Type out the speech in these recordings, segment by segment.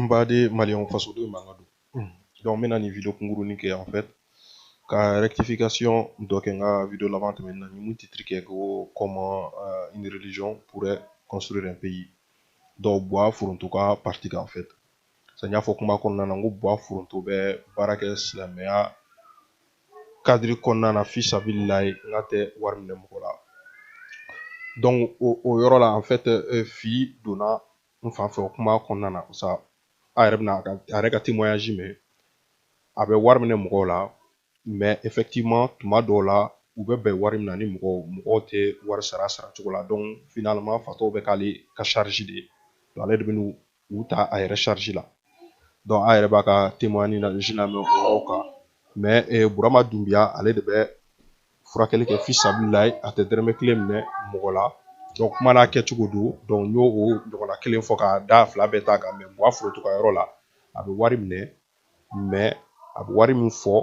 n baden maliyɛnw fasoden manga don donc n bɛna nin video kunkurunin kɛ en fait ka rectification dɔ kɛ n ka video laban tɛmɛnen na n ye mun titre kɛ ko comment euh, une religion pourrait construire un pays donc buwa foronto ka parti kan en fait sa n y'a fɔ kuma kɔnɔna na n ko buwa foronto bɛ baara kɛ silamɛya kadiri kɔnɔna na fisabililayi n k'a tɛ wari minɛ mɔgɔ la donc o o yɔrɔ la en fait euh, fili donna n fan fɛ o kuma kɔnɔna na sa a yɛrɛ bɛna a yɛrɛ ka témoignage mɛn a bɛ wari minɛ mɔgɔw la mais effectivement tuma dɔw la u bɛ bɛn wari min na ni mɔgɔw mɔgɔw tɛ wari sara sara cogo la donc finalement fatɔw bɛ k'ale ka charge de ye donc ale de bɛ n'u u ta a yɛrɛ charge la donc a yɛrɛ b'a ka témoignage lamɛn o yɔrɔw kan mais eh, burama dunbiya ale de bɛ furakɛli kɛ fisabililayi a tɛ dɛrɛmɛ kelen minɛ mɔgɔ la donc kuma n'a kɛcogo don donc n y'o o ɲɔgɔnna kelen fɔ k'a da fila bɛɛ ta kan mais buwa foroto ka yɔrɔ la a bɛ wari minɛ mais a bɛ wari min fɔ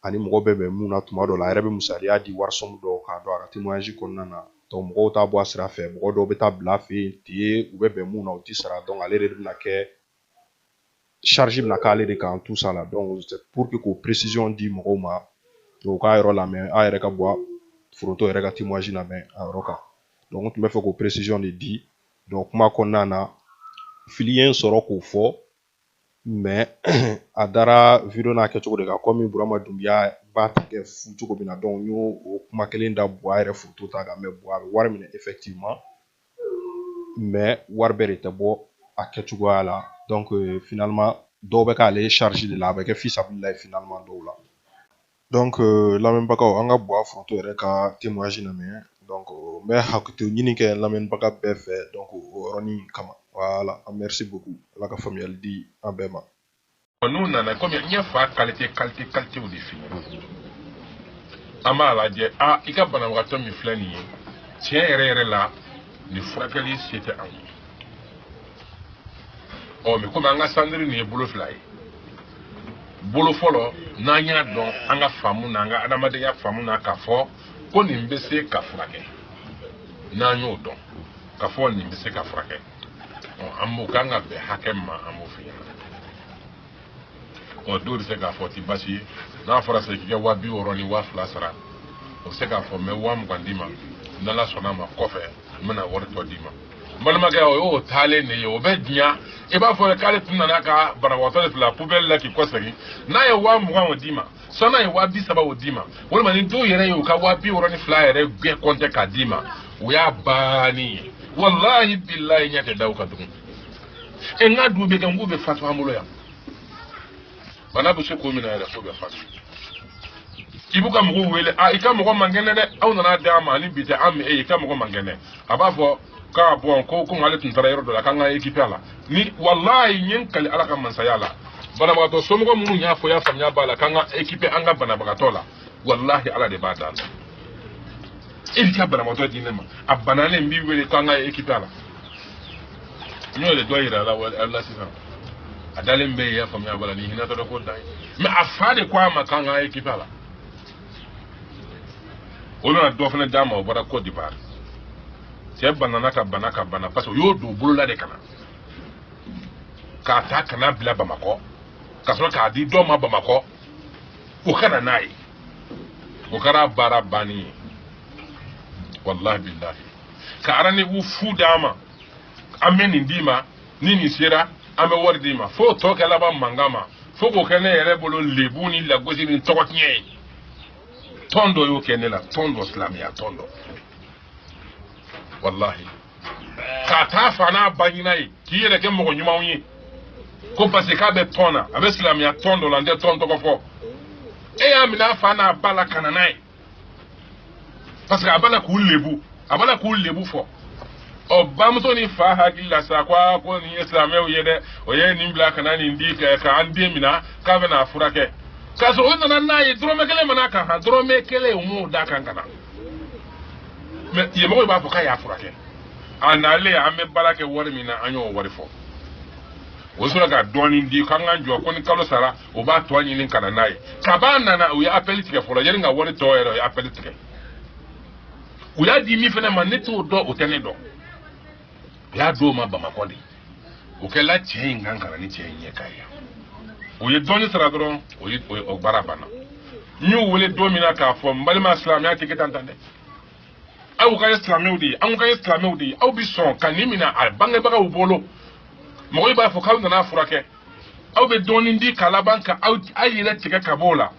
ani mɔgɔ bɛ bɛn mun na tuma dɔ la a yɛrɛ bɛ misaliya di warisɔn dɔw kan donc a ka témoignage kɔnɔna na donc mɔgɔw t'a bɔ a sira fɛ mɔgɔ dɔw bɛ taa bila a fɛ yen ten u bɛ bɛn mun na u tɛ sara donc ale de bɛna kɛ charge bɛna k'ale de kan tout ça là donc pour que k'o précision di mɔgɔw ma u k'a yɔrɔ lamɛn a yɛrɛ ka buwa foronto yɛrɛ ka témoignage lamɛn a yɔrɔ kan donc n tun b'a fɛ k'o précision de di donc kuma kɔnɔna na fili ye n sɔrɔ k'o fɔ mais a dara video n'a kɛcogo de kan comme burama dunbiya b'a ta kɛ fu cogo min na donc n y'o o kuma kelen da buwa yɛrɛ foroto ta kan mais buwa bɛ wari minɛ effectivement mais wari bɛɛ de tɛ bɔ a kɛcogoya la donc euh, finalement dɔw bɛ k'ale charge de la a bɛ kɛ fisabililayi finalement dɔw la donc euh, lamɛnbagaw an ka buwa foronto yɛrɛ ka témoignage lamɛn donc n bɛ hakɛto ɲini kɛ lamɛnbaga bɛɛ fɛ donc o yɔrɔnin kama voilà an merci beaucoup ala ka faamuyali di an bɛɛ ma n'u nana comme n ye fa kalite kalite kalitew de f'i ye an b'a lajɛ a i ka banabagatɔ min filɛ nin ye tiɲɛ yɛrɛ yɛrɛ la nin furakɛli se tɛ an ye ɔ mais comme an ka centre nin ye bolo fila ye bolo fɔlɔ n'an y'a dɔn an ka faamu na an ka adamadenya faamu na k'a fɔ ko nin bɛ se ka furakɛ n'an y'o dɔn k'a fɔ nin bɛ se ka furakɛ ɔ an b'o k'an ka bɛn hakɛ ma an b'o f'i ɲɛna ɔ dɔw bɛ se k'a fɔ ti basi ye n'a fɔra sa k'i ka waa bi wɔɔrɔ ni waa fila sara o bɛ se k'a fɔ n bɛ waa mugan d'i ma n'ala sɔnna a ma kɔfɛ n bɛna wari tɔ d'i ma n balimakɛ o y'o taalen de ye o bɛ diɲa i b'a fɔ k'ale tun nana ka banabagatɔ de bila pubɛli la k'i kɔsegin n'a ye waa mugan o d'i ma sɔn n'a ye waa bi saba o d'i ma walima ni dɔw yɛrɛ ye u ka waa bi wɔɔrɔ ni fila yɛrɛ bɛɛ kɔntɛ k'a d'i ma o y'a bannen ye walahi bilahi ɲɛ tɛ da u kan tugun e n ka du bɛ kɛ n k'u bɛ fatu an bolo yan bana bɛ se k'o minɛ yɛrɛ fo bɛ fatu i b'u ka mɔgɔw wele a i ka mɔgɔ man kɛnɛ dɛ aw nana d'an ma ani bi tɛ an mɛ e i ka mɔgɔ man kɛnɛ a b'a fɔ k'a bɔn ko komi ale tun taara yɔrɔ dɔ la k'an ka okipe a la ni walayi n ye n kali ala ka masaya la banabagatɔ somɔgɔ minnu y'a fɔ y'a faamuya b'a la k'an ka okipe an ka banabagatɔ la walahi ala de b'a d'a la e b'i ka banabagatɔ di ne ma a banalen n b'i wele k'an ka okipe a la n y'o de dɔ yira aw la sisan a dalen bɛ yen y'a faamuya bala ni hinɛ tɔdɔ ko dan ye mɛ a fa de ko an ma k'an k'an okipe a la o nana dɔ fana d'an ma o bɔra côte d'ivoire cɛ banana ka bana ka bana parce que o y'o don bolo la de ka na k'a ta ka n'a bila bamakɔ ka sɔrɔ k'a di dɔ ma bamakɔ o ka na n'a ye o kɛra baara bannen ye walahi bilahi ka arandevu fu d'an ma an bɛ nin d'i ma ni nin sera an bɛ wari d'i ma fo tɔ kɛ laban mankan ma fo k'o kɛ ne yɛrɛ bolo lebu ni lagosi ni tɔgɔ tiɲɛ ye tɔn dɔ y'o kɛ ne la tɔn dɔ silamɛya tɔn dɔ walahi ka t'a fa n'a ba ɲɛ na yen k'i yɛrɛ kɛ mɔgɔ ɲumanw ye ko parce que k'a bɛ tɔn na a bɛ silamɛya tɔn dɔ la n tɛ tɔn tɔgɔ fɔ e y'a minɛ a fa n'a ba la ka na n'a ye parce que a b'a la k'u lebu a b'a la k'u lebu fo o bamuso ni fa hakili la sa ko aa ko nin ye silamɛw ye dɛ o ye nin bila ka na nin di kɛ ka an den minɛ k'a bɛ n'a furakɛ k'a sɔrɔ o nana n'a ye dɔrɔmɛ kelen ma n'a kan han dɔrɔmɛ kelen u m'o d'a kan ka na mɛ yen mɔgɔw b'a fɔ k'a y'a furakɛ a nalen an bɛ baara kɛ wari min na an y'o wari fɔ o sɔrɔ ka dɔɔnin di k'an k'an jɔ ko ni kalo sara o b'a tɔ ɲini ka na n'a ye kab'a nana u ye apɛli tigɛ fɔlɔ yanni ka wari tɔ yɛrɛ u ye apɛli tigɛ u y'a di min fana ma ne t'o dɔn o tɛ ne dɔn u y'a d'o ma bamakɔ de o kɛla cɛ in kan ka na ni cɛ in ɲɛ ka ye o ye dɔɔni sara dɔrɔn o ye o baara banna n y'u wele don min na k'a fɔ n balima silamɛya tɛ kɛ tan tan dɛ aw ka ye silamɛw de ye anw ka ye silamɛw de ye aw bɛ sɔn ka nin minɛ a bangebagaw bolo mɔgɔw b'a fɔ k'aw nan'a furakɛ aw bɛ dɔɔnin di ka laban ka aw yɛrɛ tigɛ ka b'o la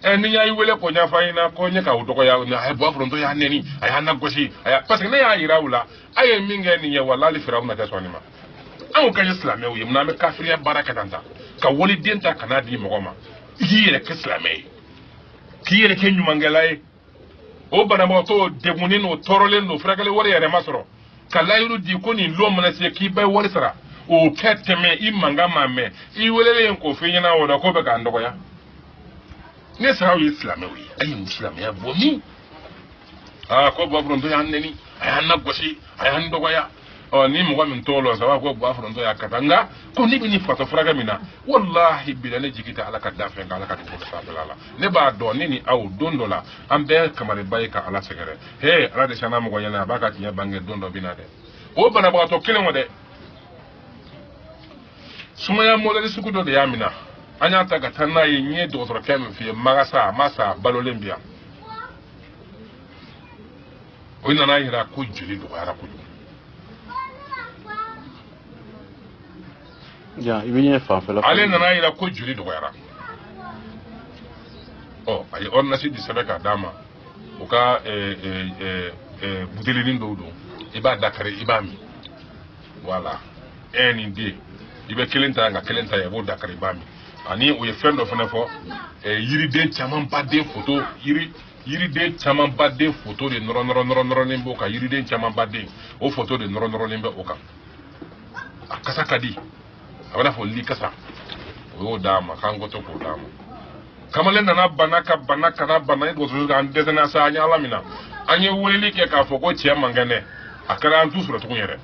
ɛ ni y'a wele k'o ɲɛfɔ an ɲɛna ko n ye k'aw dɔgɔya a ye bɔ foronto y'a nɛni a y'a nagosi a y'a parce que ne y'a jira u la a ye min kɛ nin ye walahi firawuna tɛ sɔn nin ma anw ka ye silamɛw ye munna an bɛ kafiriya baara kɛ tan ta ka waliden ta ka n'a di mɔgɔ ma i k'i yɛrɛ kɛ silamɛ ye k'i yɛrɛ kɛ ɲumankɛla ye o banabagatɔ degunnen don tɔɔrɔlen don furakɛli wari yɛrɛ ma sɔrɔ ka layiru di ko nin lon mana se k'i bɛ wari sara o ka tɛmɛ i mankan ma mɛn i welelen k'o f'i ɲɛna o la k'o bɛ k'an dɔgɔya ne sara aw ye silamɛw ye a ye nin silamɛya bɔ min aa ko bɔ foronto y'an nɛni a y'an lagosi a y'an dɔgɔya ɔ ni mɔgɔ min t'o lɔn saba ko bɔ foronto y'a kata nka ko ne bɛ nin fatɔ furakɛ min na walahi bila ne jigi tɛ ala ka danfɛn kan ala ka dugu sanfɛla la ne b'a dɔn ne ni aw don dɔ la an bɛɛ kamariba ye ka ala sɛgɛrɛ he ala de sanna mɔgɔ ɲɛna a b'a ka tiɲɛ bange don dɔ bɛ na dɛ o banabagatɔ kelen o dɛ sumaya mɔdɛli sugu dɔ de y'a minɛ an y'a ta ka taa n'a ye n ye dɔgɔtɔrɔkɛ min f'i ye magasa a ma sa a balolen bi yan o nana yira ko jeli dɔgɔyara kojugu ale nana yira ko jeli dɔgɔyara ɔ a ye ordonnance di sɛbɛn k'a d'a ma u ka eh, eh, eh, butelinin dɔw don i b'a dakari i b'a min voilà ɛ nin den i bɛ kelen ta yan ka kelen ta yan i b'o dakari i b'a min ani u ye fɛn dɔ fana fɔ yiriden caman ba den foto yiri yiriden camanbaden foto de nɔrɔnɔrɔnɔrɔnɔrɔlen b'o kan yiriden camanbaden o foto de nɔrɔnɔrɔlen bɛ o kan a kasa ka di a bɛna fɔ li kasa o y'o d'a ma k'an k'o to k'o d'a ma kamalen nana bana ka bana ka na bana i dɔgɔtɔrɔso an dɛsɛnna sa an ye ala minɛ an ye weleli kɛ k'a fɔ ko cɛ man kɛnɛ dɛ a kɛra an t'u sɔrɔ tugun yɛrɛ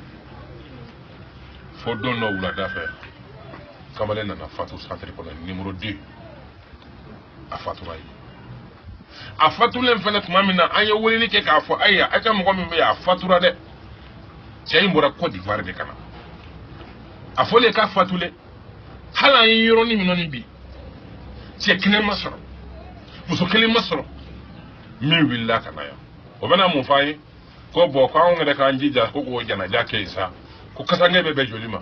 fo don dɔ wulada fɛ kamalen nana fatu santiri kɔnɔ nimoro deux a fatura ye a fatulen fana tuma min na an ye weleli kɛ k'a fɔ ayiwa a ka mɔgɔ min bɛ yen a fatura dɛ cɛ in bɔra cote d'ivoire de ka na a fɔlen k'a fatulen hali an ye yɔrɔnin min nɔni bi cɛ kelen ma sɔrɔ muso kelen ma sɔrɔ min wulila ka na yan o bɛna mun fɔ an ye ko bɔn ko anw yɛrɛ k'an jija ko k'o janaja kɛ yen sa ko kasange bɛ bɛn joli ma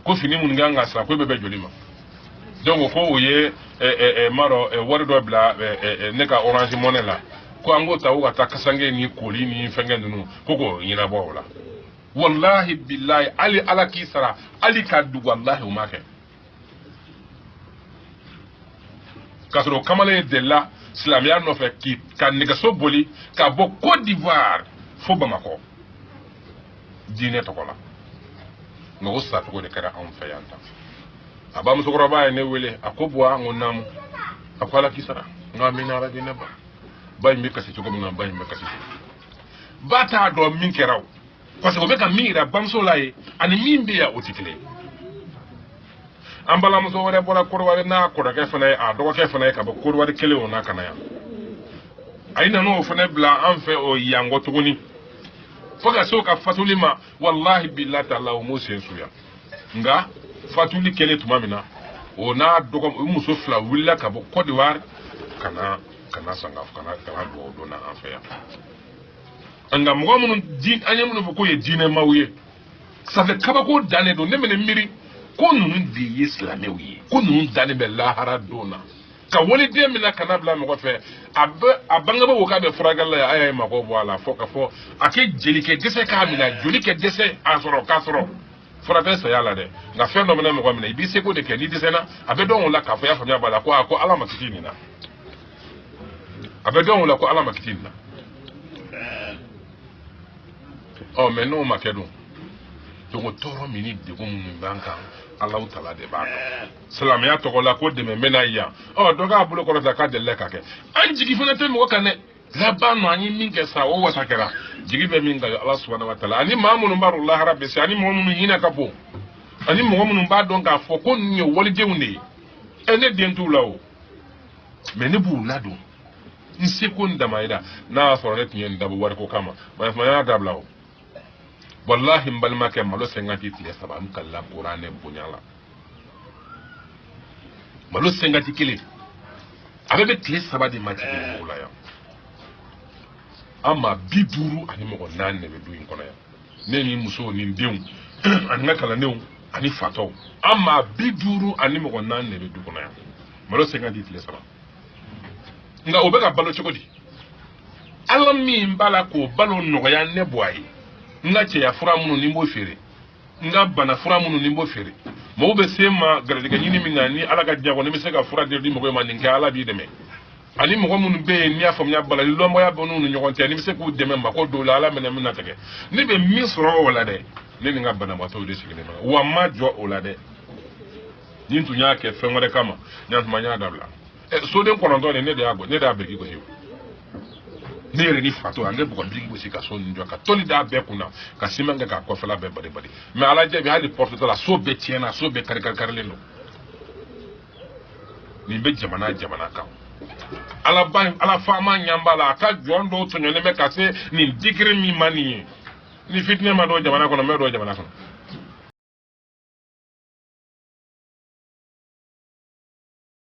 ko fini minnu kan ka san ko bɛ bɛn joli ma donc ko u ye m'a dɔn wari dɔ bila ne ka orange money la ko an k'o ta ko ka taa kasange ni koli ni fɛnkɛ ninnu ko k'o ɲɛnabɔ o la walahi bilahi hali ala k'i sara hali ka duga walahi u ma kɛ k'a sɔrɔ kamalen delila silamɛya nɔfɛ ka nɛgɛso boli ka bɔ cote d'ivoire fo bamakɔ diinɛ tɔgɔ la nka o sacogo de kɛra anw fɛ yan tan a ba musokɔrɔba ye ne wele a ko buwa n ko naamu a ko ala k'i sara n ko amina yarabi ne ba ba in bɛ kasi cogo min na ba in bɛ kasi ba t'a dɔn min kɛra o parce que o bɛ ka min yira bamuso la ye ani min bɛ yan o tɛ kelen ye an balimamuso wɛrɛ bɔra kɔrɔwari n'a kɔrɔkɛ fana ye a dɔgɔkɛ fana ye ka bɔ kɔrɔwari kelen o n'a ka na yan a ye nan'o fana bila an fɛ o yanko tuguni fo ka se o ka fatuli ma walahi bilahi taala o m'o sen su yan nka fatuli kɛlen tuma min na o n'a dɔgɔ o muso fila wulila ka bɔ cote d'ivoire ka na ka na sanga ka na ka na dugawu don na an fɛ yan nka mɔgɔ minnu an ye minnu fɔ k'o ye diinɛmaw ye sanfɛ kabako dan de don ne bɛ ne miiri ko ninnu de ye silamɛw ye ko ninnu dannen bɛ lahara don na ka waliden min na ka n'a bila mɔgɔ fɛ a bɛ a bangebaa ko k'a bɛ furakɛli la yan a y'a ye mako bɔ a la fo ka fɔ a kɛ joli kɛ dɛsɛ k'a minɛ joli kɛ dɛsɛ a sɔrɔ k'a sɔrɔ fura tɛ saya la dɛ nka fɛn dɔ mana mɔgɔ minɛ i b'i seko de kɛ n'i dɛsɛra a bɛ dɔn o la k'a fɔ i y'a faamuya b'a la ko a ko ala m'a kisi nin na a bɛ dɔn o la ko ala m'a kisi nin na ɔ mɛ n'o ma kɛ dun donc tɔɔrɔ min ni degun minnu b'an kan alahu taala de b'a dɔn silamɛya tɔgɔ la ko dɛmɛ bɛ na yan ɔ dɔ k'a bolo kɔrɔta k'a delila ka kɛ an jigi fana tɛ mɔgɔ kan dɛ laban nɔ an ye min kɛ sa o wasa kɛra jigi bɛ min kan ala subahana wa taala ani maa minnu b'a dɔn lahara bɛ se ani mɔgɔ minnu hinɛ ka bon ani mɔgɔ minnu b'a dɔn k'a fɔ ko nin ye walidenw de ye ɛ ne den t'u la o mɛ ne b'u ladon n seko n damayira n'a y'a sɔrɔ ne tun ye nin dabɔ wariko kama ne fana y'a dabila o walahi n balimakɛ malo cinquante tile saba n kalila kuranɛ bonya la malo cinquante kelen a bɛɛ bɛ tile saba de ma jigin dugu la yan an maa bi duuru ani mɔgɔ naani de bɛ du in kɔnɔ yan ne ni musow ni denw ani n ka kalandenw ani fatɔw an maa bi duuru ani mɔgɔ naani de bɛ du kɔnɔ yan malo cinquante tile saba nka o bɛ ka balo cogo di ala min b'a la k'o balo nɔgɔya ne bɔ a ye n ka cɛya fura minnu ni n b'o feere n ka bana fura minnu ni n b'o feere mɔgɔw bɛ se n ma garijɛgɛ ɲini min ka ɲi ala ka diɲɛ kɔnɔ ne bɛ se ka fura di mɔgɔ ma nin kɛ ala b'i dɛmɛ ani mɔgɔ minnu bɛ yen n'i y'a faamuya balali lɔnbɔya bɛ n'u ni ɲɔgɔn cɛ ne bɛ se k'u dɛmɛ mako dɔw la ala mana min latigɛ ne bɛ min sɔrɔ o la dɛ ne ni n ka banabaatɔw de sigilen bɛ wa n ma jɔ o la dɛ ni n tun y'a kɛ fɛn wɛrɛ kama ɲantuma n y'a dabila soden kɔnɔntɔn de ne de y'a bɔ ne de y'a biriki gosi ne yɛrɛ ni fato an bɛ bɔgɔ biriki gosi ka so ninnu jɔ ka tɔli d'a bɛɛ kunna ka siman kɛ k'a kɔfɛla bɛɛ bari bari mɛ ala jaabi hali pɔrɔtɔ la so bɛɛ tiɲɛna so bɛɛ kari kari karilen don nin bɛ jamana jamana kan ala ba ala faama ɲa b'a la a ka jɔn dɔw tɔɲɔlen bɛ ka se nin digiri min ma nin ye ni fitinɛ ma don jamana kɔnɔ mun bɛ don jamana kɔnɔ